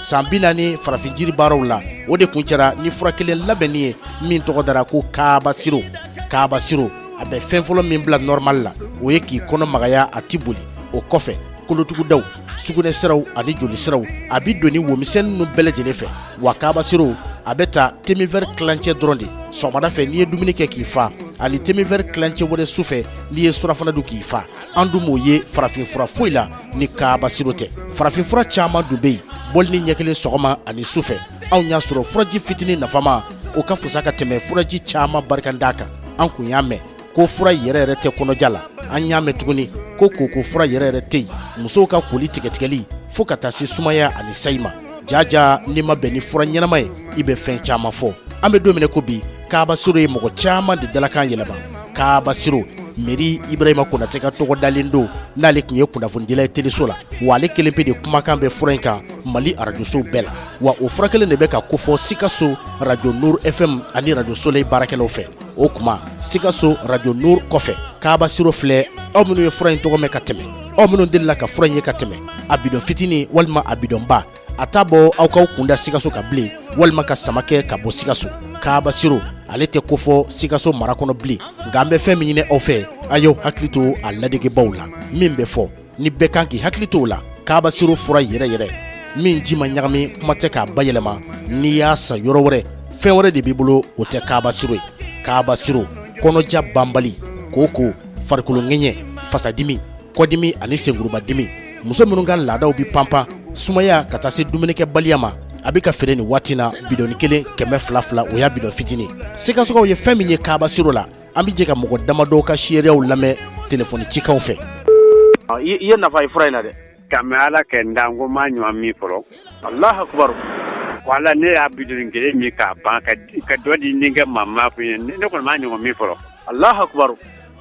san bi naani farafin jiri baaraw la o de kun cɛra ni fura kelen labɛnnen ye min tɔgɔ dara ko kaaba siro kaaba siro a bɛ fɛn fɔlɔ min bila nɔrɔma la o ye k'i kɔnɔ magaya a tɛ boli o kɔfɛ kolotugudaw sugunɛ siraw ani joli siraw a bɛ don nin wo misɛn ninnu bɛɛ lajɛlen fɛ wa kaaba siro a bɛ ta teminvɛri kilancɛ dɔrɔn de sɔgɔmada fɛ n'i ye dumuni kɛ k'i fa ani teminvɛri kilancɛ wɛrɛ su fɛ n'i ye surafana dun k'i fa an dun m'o ye farafin fura foyi la ni kaaba siro tɛ farafin fura caman dun bɛ yen bɔlinin ɲɛ kelen sɔgɔma ani su fɛ anw y'a sɔrɔ furaji fitinin nafama o ka fisa ka tɛmɛ furaji caman barikantan kan an kun y'a mɛn ko fura yɛrɛ yɛrɛ tɛ kɔnɔja la an y'a mɛn tuguni ko koko fura yɛrɛ yɛrɛ tɛ yen musow ka koli tigɛtigɛli fo ka taa se sumaya ani sayi ma jaja n'i ma bɛn ni fura ɲɛnama ye i bɛ fɛn caman fɔ an bɛ don min na ko bi kaaba siro ye mɔgɔ caman de dalakan yɛlɛma kaaba siro meri ibrahima konatɛ ka tɔgɔ dalen don n'ale tun ye kunnafonidila ye teleso la wa ale kelen pe de kumakan bɛ fura in kan mali arajosow bɛɛ la wa o fura kelen de bɛ ka kofɔ sikaso radio nur fm ani radio soleil baarakɛlaw fɛ o kuma sikaso radio nur kɔfɛ kaaba siro filɛ aw minnu ye fura in tɔgɔ mɛn ka tɛmɛ aw minnu delila ka fura in ye ka tɛmɛ a bidɔn fitini walima a bidɔnba a t'a bɔ aw k'aw kunda sikaso kan bilen walima ka sama kɛ ka bɔ sikaso kaaba siro ale tɛ kofɔ sikaso mara kɔnɔ bilen nka an bɛ fɛn min ɲini aw fɛ a y'aw hakili to a ladegebaaw la min bɛ fɔ ni bɛɛ kan k'i hakili to o la kaaba siro fura yɛrɛ yɛrɛ min ji ma ɲagami kuma tɛ k'a bayɛlɛma n'i y'a san yɔrɔ wɛrɛ fɛn wɛrɛ de b'i bolo o tɛ kaaba siro ye kaaba siro kɔnɔja banbali kooko farikolo ŋɛɲɛ fasadimi kɔdimi ani senkurubadimi muso minnu ka laadaw bɛ panpan sumaya ka taa se dumunikɛbaliya ma a bɛ ka feere nin waati na bidɔni kelen kɛmɛ fila fila o y'a bidɔn fitinin sikasokaw ye fɛn min ye kaaba siro la an bɛ jɛ ka mɔgɔ damadɔ ka seereyaw lamɛn telefɔni cikanw fɛ i ye nafa ye fura in na dɛ kabi ala ka n dan ko n m'a ɲɔgɔn min fɔlɔ alahu akibaru wala ne y'a bidɔni kelen min k'a ban ka dɔ di denkɛ maa ma kun ye ne kɔni m'a ɲɔgɔn min fɔlɔ alahu akibaru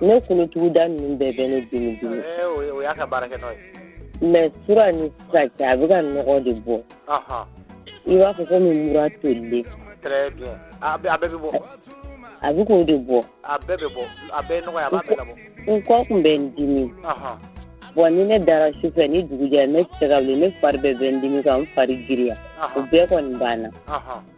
Ne kolotuguda ninnu bɛɛ bɛ ne dimi dimi mɛ fura nin sisan a bɛ ka nɔgɔ de bɔ i b'a fɔ komi mura tolen a bɛ k'o de bɔ n kɔ tun bɛ n dimi bon ni ne dara su fɛ ni dugu jɛra ne tɛ se ka wuli ne fari bɛɛ bɛ n dimi ka n fari giriya o bɛɛ kɔni banna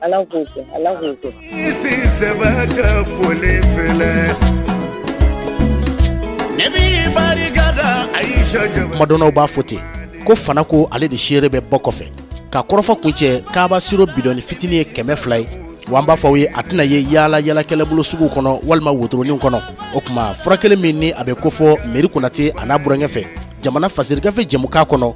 ala k'o kɛ ala k'o kɛ isi sɛbɛ ka foli filɛ ne b'i barika da a y'i sɔ jama kumadɔnnaw b'a fɔ ten ko fana ko ale de seere bɛ bɔ kɔfɛ ka kɔrɔfɔ kun cɛ kaaba siro bidɔni fitini ye kɛmɛ fila ye wa an b'a fɔ aw ye a tɛna ye yaalayaalakɛlaw bolo suguw kɔnɔ walima wotoroniw kɔnɔ o kuma fura kelen min ni a bɛ kofɔ meri konate a n'a burankɛ fɛ jamana fasirigafe jɛmukan kɔnɔ